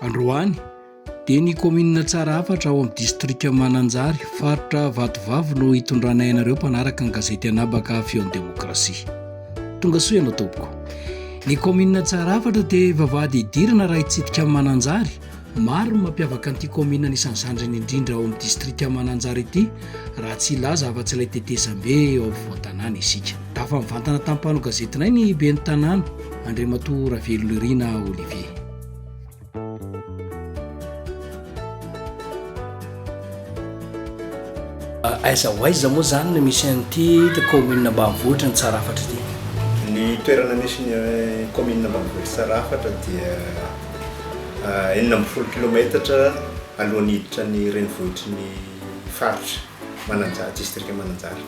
Androany dia ny kaominina Tsarahafatra ao amin'ny distrika Mananjary, faritra Vatovavy no hitondranay anareo mpanaraka ny gazety Anabaka Feon'ny Demokrasia. Tonga soa ianao tompoko. Ny kaominina Tsarahafatra dia vavahady idirana raha hitsidika amin'ny Mananjary. Maro ny mampiavaka an'ity kaominina anisan'ny zandriny indrindra ao amin'ny distrika Mananjary ity raha tsy hilaza afa-tsy ilay tetezambe ao afovoan-tanàna isika. Tafa mivantana tamin'ny mpanao gazetinay ny ben'ny tanàna. Andriamatoa Ravelonirina Olivier. Aiza ho aiza moa izany no misy an'ity kaominina ambanivohitra ny Tsarafatra ity? Ny toerana misy ny kaominina ambanivohitra Tsarafatra dia enina ambin'ny folo kilaometatra alohan'ny hiditra ny renivohitry ny faritra Mananjary, distrika Mananjary.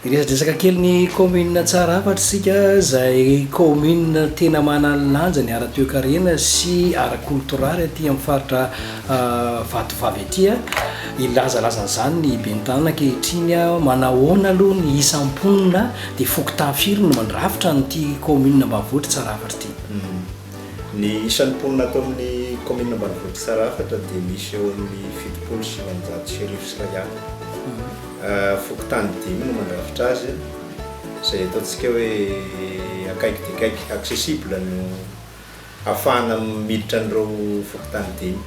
Hiresadresaka kely ny kaominina Tsarafatra isika izay kaominina tena manana ny lanjany ara-toekarena sy ara-kolotoraly aty amin'ny faritra Vatovavy aty. Hilazalaza an'izany ny ben'ny tanàna ankehitriny, manahoana aloha ny isam-mponina dia fokontany firy no mandrafitra an'ity kaominina ambanivohitr'i Tsarafatra ity. Ny isan'ny mponina ato amin'ny kaominina ambanivohitr'i Tsarafatra dia misy eo amin'ny fitopolo sy sivinjato sy arivo sy iray alina. Fokontany dimy no mandrafitra azy, izay ataontsika hoe akaiky dia akaiky, accessible, no ahafahana miditra an'ireo fokontany dimy.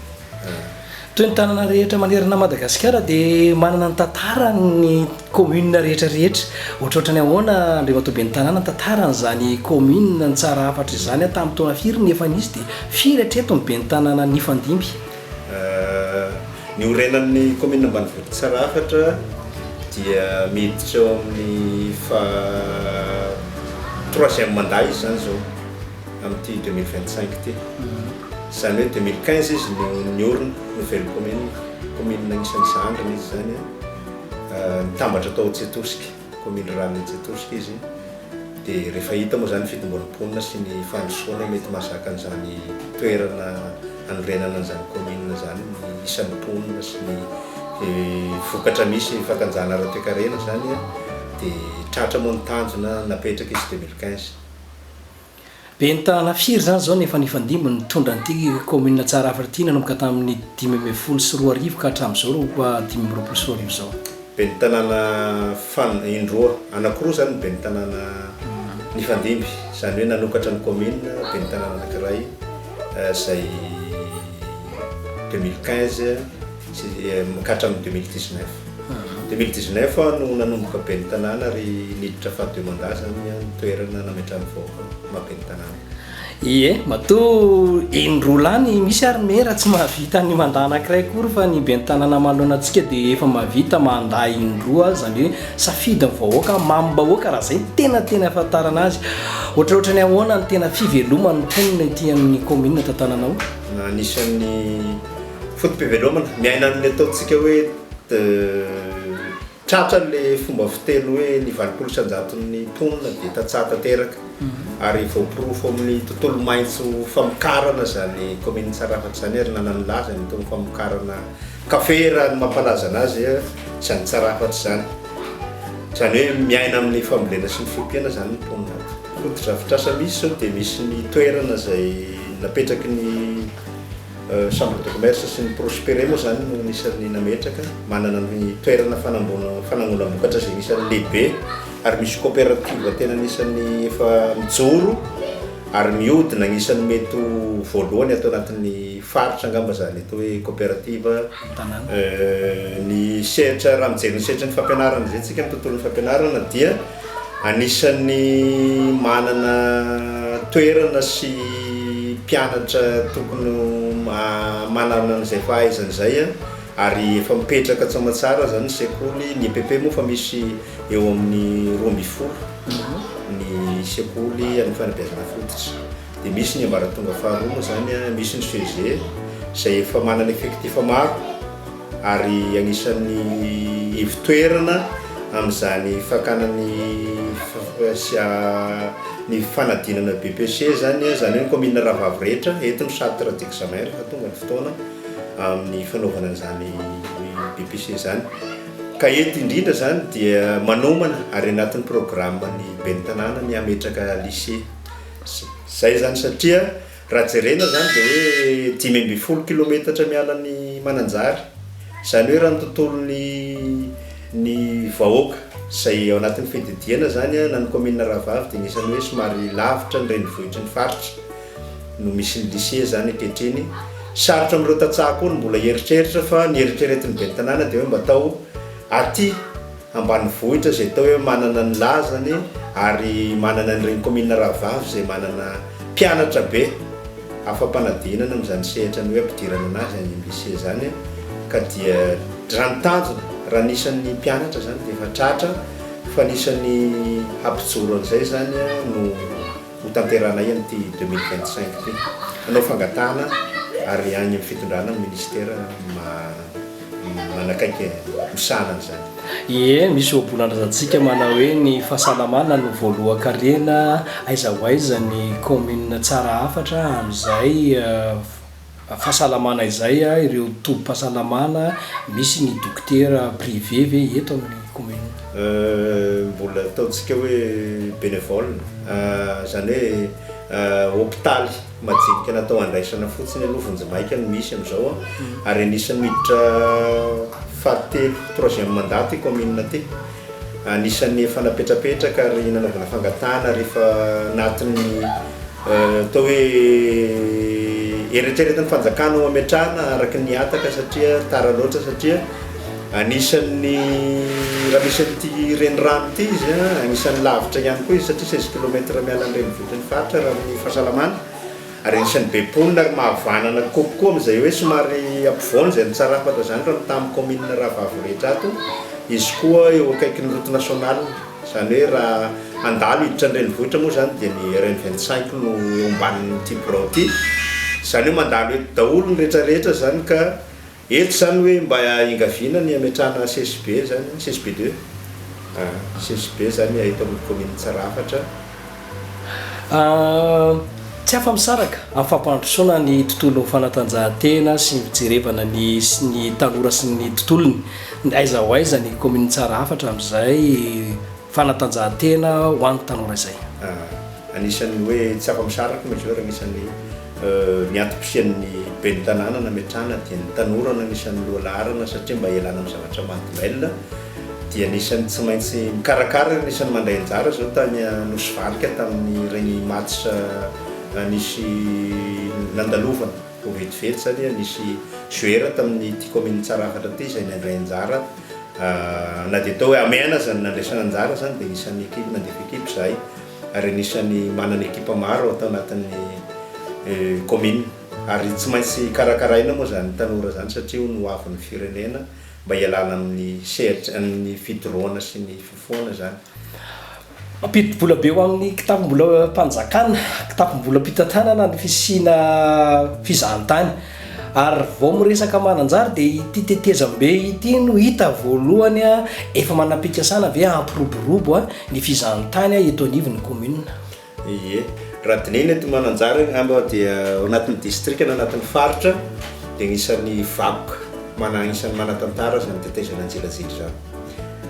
Toy ny tanana rehetra manerana an'i Madagasikara dia manana ny tantarany ny commune rehetra rehetra. Ohatrohatrany ahoana Andriamatoa Ben'ny Tanàna ny tantaran'izany commune Tsara hafatra izany ary tamin'ny taona firy no efa nisy dia firy hatreto ny Ben'ny Tanàna nifandimby? Niorenan'ny commune ambanivohitra Tsara hafatra dia miditra eo amin'ny faha troisième mandat izy izany izao amin'ity deux mille vingt cinq ity. Izany hoe deux mille quinze izy no niorina, nouvelle commune, commune anisan'ny Zahandrana izy izany an, nitambatra tao Tsetorsika, commune rurale Tsetorsika izy, dia rehefa hita moa izany ny fitomboan'ny mponina sy ny fandrosoana mety mahazaka an'izany toerana hanorenana an'izany commune izany ny isan'ny mponina sy ny vokatra misy fakanjana ara-toekarena izany an, dia tratra moa ny tanjona napetraka izy deux mille quinze. Ben'ny tanàna firy izany izao no efa nifandimby nitondra an'ity kaominina Tsarafaritina nanomboka tamin'ny dimy ambin'ny folo sy roa arivo ka hatramin'izao roa dimy amby roapolo sy roa arivo izao? Ben'ny tanàna fan, indroa, anankiroa izany ny ben'ny tanàna nifandimby, izany hoe nanokatra ny kaominina ben'ny tanàna anankiray izay deux mille quinze, Hatramin'ny deux mille dix neuf. Deux mille dix neuf aho no nanomboka ben'ny tanàna ary niditra faha deux mandat zany ny toerana nametrahan'ny vahoaka ny maha ben'ny tanàna. Ie, matoa eny Rolany misy ary maire tsy mahavita ny mandat anankiray akory fa ny ben'ny tanàna manoloana antsika dia efa mahavita mandat indroa aza, izany hoe safidy ny vahoaka, mamim-bahoaka raha izay no tena tena ahafantarana azy. Ohatraohatran'ny ahoana ny tena fiveloman'ny mponina ety amin'ny commune Tantananao? Anisan'ny Foto-pivelomana, miaina amin'ny ataontsika hoe tratra le fomba fiteny hoe ny valopolo isan-jaton'ny mponina dia tantsaha tanteraka ary voaporofo amin'ny tontolo maitso famokarana izany kaominin'i Tsarafatra izany ary nanan'ny lazany tao amin'ny famokarana kafe raha ny mampalaza anazy izany Tsarafatra izany. Izany hoe miaina amin'ny fambolena sy ny fiompiana izany ny mponina ato. Foto-drafitrasa misy izao dia misy ny toerana izay napetraky ny Chambre de commerce sy ny Prospere moa izany no anisan'ny nametraka. Manana ny toerana fanangonam-bokatra izay anisan'ny lehibe ary misy coopérative tena anisan'ny efa mijoro ary mihodina anisan'ny mety ho voalohany ato anatin'ny faritra angamba izany atao hoe coopérative ny sehatra raha mijery ny sehatry ny fampianarana izay tsika ny tontolon'ny fampianarana dia Anisan'ny manana toerana sy mpianatra tokony ho manana an'izay fahaizana izay ary efa mipetraka tsy aman-tsara aza ny sekoly. Ny EPP moa efa misy eo amin'ny roa ambin'ny folo ny sekoly an'ny fanabeazana fototra. Dia misy ny ambaratonga faharoa moa izany an, misy ny CEG izay efa manana effectif maro ary anisan'ny ivo-toerana amin'izany fakana ny ny fanadinana BEPC izany an, izany hoe ny kaominina rahavavy rehetra eto ny centre d'examen rehefa tonga ny fotoana amin'ny fanaovana an'izany BEPC izany. Ka eto indrindra izany dia manomana ary anatin'ny programan'ny ben'ny tanàna ny hametraka lycée. Zay zany satria raha jerena zany dia hoe dimy ambin'ny folo kilometatra miala an'i Mananjary, zany hoe raha ny tontolon'ny ny vahoaka zay ao anatin'ny fididiana zany an na ny commune Rahavavy dia anisany hoe somary lavitra ny renivohitry ny faritra no misy ny lycée zany ankehitriny, sarotra amin'ireo tantsaha koa ny mbola hieritreritra fa ny eritreretin'ny ben'ny tanàna dia hoe mba atao aty. ambanivohitra izay atao hoe manana ny lazany ary manana an'ireny kaominina rahavavy izay manana mpianatra be afa-panadinana amin'izany sehatra ny hoe ampidirana an'azy any amin'ny lycée izany ka dia raha ny tanjona raha ny isan'ny mpianatra izany dia efa tratra fa ny isan'ny hampijoro an'izay izany no ho tanterahanay amin'ity deux mille vingt cinq ity. Hanao fangatahana ary any amin'ny fitondrana ny ministera manakaiky misahana an'izany. Ie, misy ohabolan-drazantsika manao hoe ny fahasalamana no voalohan-karena, aiza ho aiza ny kaominina tsara hafatra amin'izay? fahasalamana izay a, ireo tobim-pahasalamana misy ny dokotera privé ve eto amin'ny commune? Mbola ataontsika hoe bénévole, izany hoe hopitaly majinika natao handraisana fotsiny aloha vonjimaika no misy amin'izao ary anisan'ny miditra fahatelo, troisième mandat, ity commune ity. Anisan'ny efa napetrapetraka ary nanaovana fangatahana rehefa anatin'ny atao hoe eritreretin'ny fanjakana ho ametrahana araka ny hataka satria tara loatra satria anisan'ny raha misy an'ity renirano ity izy an, anisan'ny lavitra ihany koa izy satria seize kilomètre miala ny renivohitr'i Faritra raha amin'ny fahasalamana. Ary anisan'ny be mponina ary mahavanana kokoa amin'izay hoe somary ampovoany izay nitsarafatra izany raha mitaha amin'ny kaominina rahavavy rehetra ato, izy koa eo akaikin'ny route nationale. Izany hoe raha handalo hiditra an-drenivohitra moa izany dia ny RN vingt cinq no eo ambanin'ity birao ity. Izany hoe mandalo eto daholo ny rehetra rehetra izany ka. Eto zany hoe mba engaviana ny hametrahana CSB zany, CSB deux ah, CSB zany eto amin'ny commune Tsarafatra. Tsy afa-misaraka amin'ny fampandrosoana ny tontolon'ny fanatanjahantena sy ny fijerevana ny sy ny tanora sy ny tontolony. Aiza ho aiza ny commune Tsarafatra amin'izay fanatanjahantena ho an'ny tanora izay? Ah, anisan'ny hoe tsy afa-misaraka moa izy io ary anisan'ny. Ny antom-pisian'ny ben'ny tanàna nametrahana dia ny tanora no anisan'ny loha laharana satria mba hialana amin'ny zavatra mahadomelina dia anisan'ny tsy maintsy mikarakara ary anisan'ny mandray anjara izao tany Nosy Valika tamin'ireny match nisy nandalovana vao vetivety izany nisy joueur tamin'ny ty commune Tsarafatra ty izay nandray anjara na dia atao hoe hamehana aza ny nandraisana anjara izany dia anisan'ny ekipa nandefa ekipa izahay. ary anisan'ny manana ekipa maro ato anatin'ny kaominina ary tsy maintsy karakaraina moa izany tanora izany satria hono ho avin'ny firenena mba hialana amin'ny sehatra amin'ny fidorohana sy ny fifohana izany. Mampidi-bola be ho amin'ny kitapom-bolam-panjakana, kitapom-bolam-pitantanana ny fisiana fizahantany. Ary vao miresaka Mananjary dia ity tetezambe ity no hita voalohany efa manam-pikasana ve hampiroborobo ny fizahantany eto anivon'ny commune. Ie, raha dinihina eto Mananjary angamba dia ao anatin'ny distrika na anatin'ny faritra dia anisan'ny vakoka mana anisan'ny manantantara izany tetezana Anjelajely izany.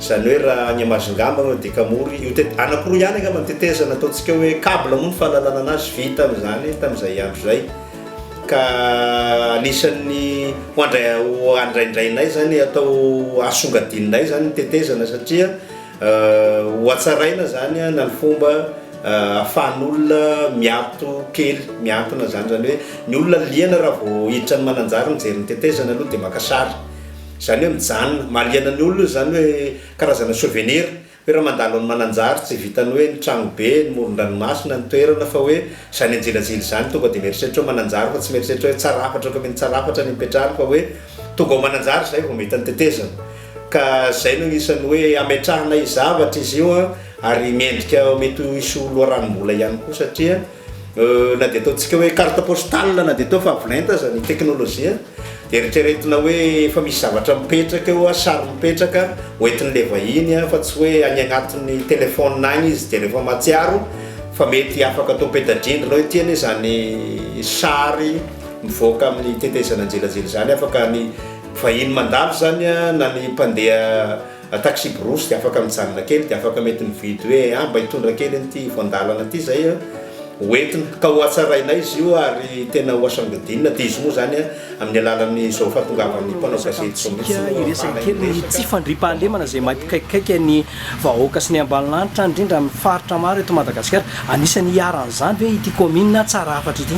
Izany hoe raha any Amazingamba no adika mory io tet-, anankiroa ihany angamba ny tetezana ataontsika hoe cable moa ny fahalalana anazy vita amin'izany tamin'izay andro izay. ka anisan'ny ho andraindrainay zany atao asongadinay zany tetezana satria ho atsaraina zany na ny fomba ahafahan'olona miato kely miantona zany zany hoe ny olona liana raha vao hiditra ny mananjary mijery ny tetezana aloha de maka sary zany hoe mijanona mahaliana ny olona zany hoe karazana souvenir Toerana mandalo an'i Mananjary, tsy vitan'ny hoe ny tragno be, ny moron-dranomasina, ny toerana fa hoe izany anjilajila izany, tonga dia mieritreritra hoe Mananjary fa tsy mieritreritra hoe Tsarafatra, commune Tsarafatra ny hipetrahany fa hoe tonga ao Mananjary izay vao mahita ny tetezana. Ka izay no anisan'ny hoe hametrahana zavatra izy io ary mendrika mety hisy ho loharanom-bola ihany koa satria. Na dia ataontsika hoe carte postale na dia atao fa avolenta aza ny teknolojia dia eritreretina hoe efa misy zavatra mipetraka eo, sary mipetraka hoentin'ilay vahiny fa tsy hoe any agnatin'ny téléphone any izy dia rehefa mahatsiaro fa mety afaka atao peta-drindrina hoe ity anie izany sary mivoaka amin'ny tetezana an-jelajela izany afaka ny vahiny mandalo izany na ny mpandeha Taxi-brousse dia afaka mijanona kely dia afaka mety mividy hoe ah mba hitondra kely an'ity voan-dalana ity zay ah ho entina ka ho hatsarainay izy io ary tena ho hasangodinina dia izy moa zany ah amin'ny alalan'izao fahatongavan'ny mpanao gazety izao mihitsy no ahafahana hiresaka. Tsy fandriampahalemana izay mampikaikaika ny vahoaka sy ny ambanilanitra indrindra amin'ny faritra maro eto Madagasikara. Anisan'ny iharan'izany ve ity kaominina Tsarahafatra ity?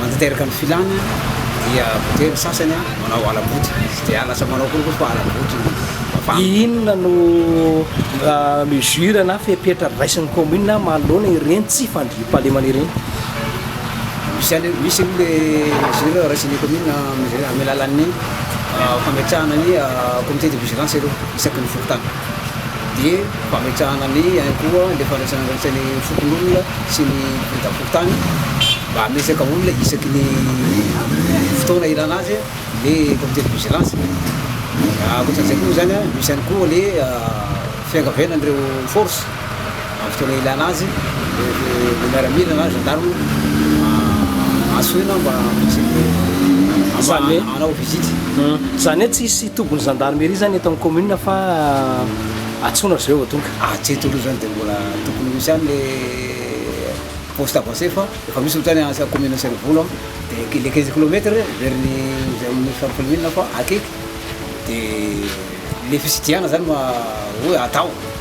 Mantanteraka ny filana dia voatery ny sasany manao ala-boty, tsy dia lasa manao akory koa fa ala-boty no mavana. Inona no mesure na fepetra raisin'ny commune manoloana ireny tsy fandriampahalemana ireny? Misy aloha misy aloha le mesure raisin'ny commune amin'ny alalan'ny fametrahana ny comité de vigilance aloha isaky ny fokontany. dia fametrahana ny ihany koa ilay fandraisana andraikitra ny fokonolona sy ny biraom-pokontany mba hametraka olona isaky ny fotoana ilana azy ny comité de vigilance. Ankoatran'izay koa moa izany, misy ihany koa ny fiangaviana an'ireo force. Amin'ny fotoana ilana azy, ny miaramila na gendarme antsoina mba hanao visite. Izany hoe tsy hisy tobin'ny gendarmerie izany eto amin'ny commune fa antsoina avy eo vao tonga? Aty Toliara izany dia mbola tokony ho misy ihany ilay poste avancé fa efa misy ohatra any à commune Antsirivolo an, dia ilay quinze kilomètre verin' izay amin'ny filohan'ny commune fa akaiky dia ilay fitsidihanana izany no atao.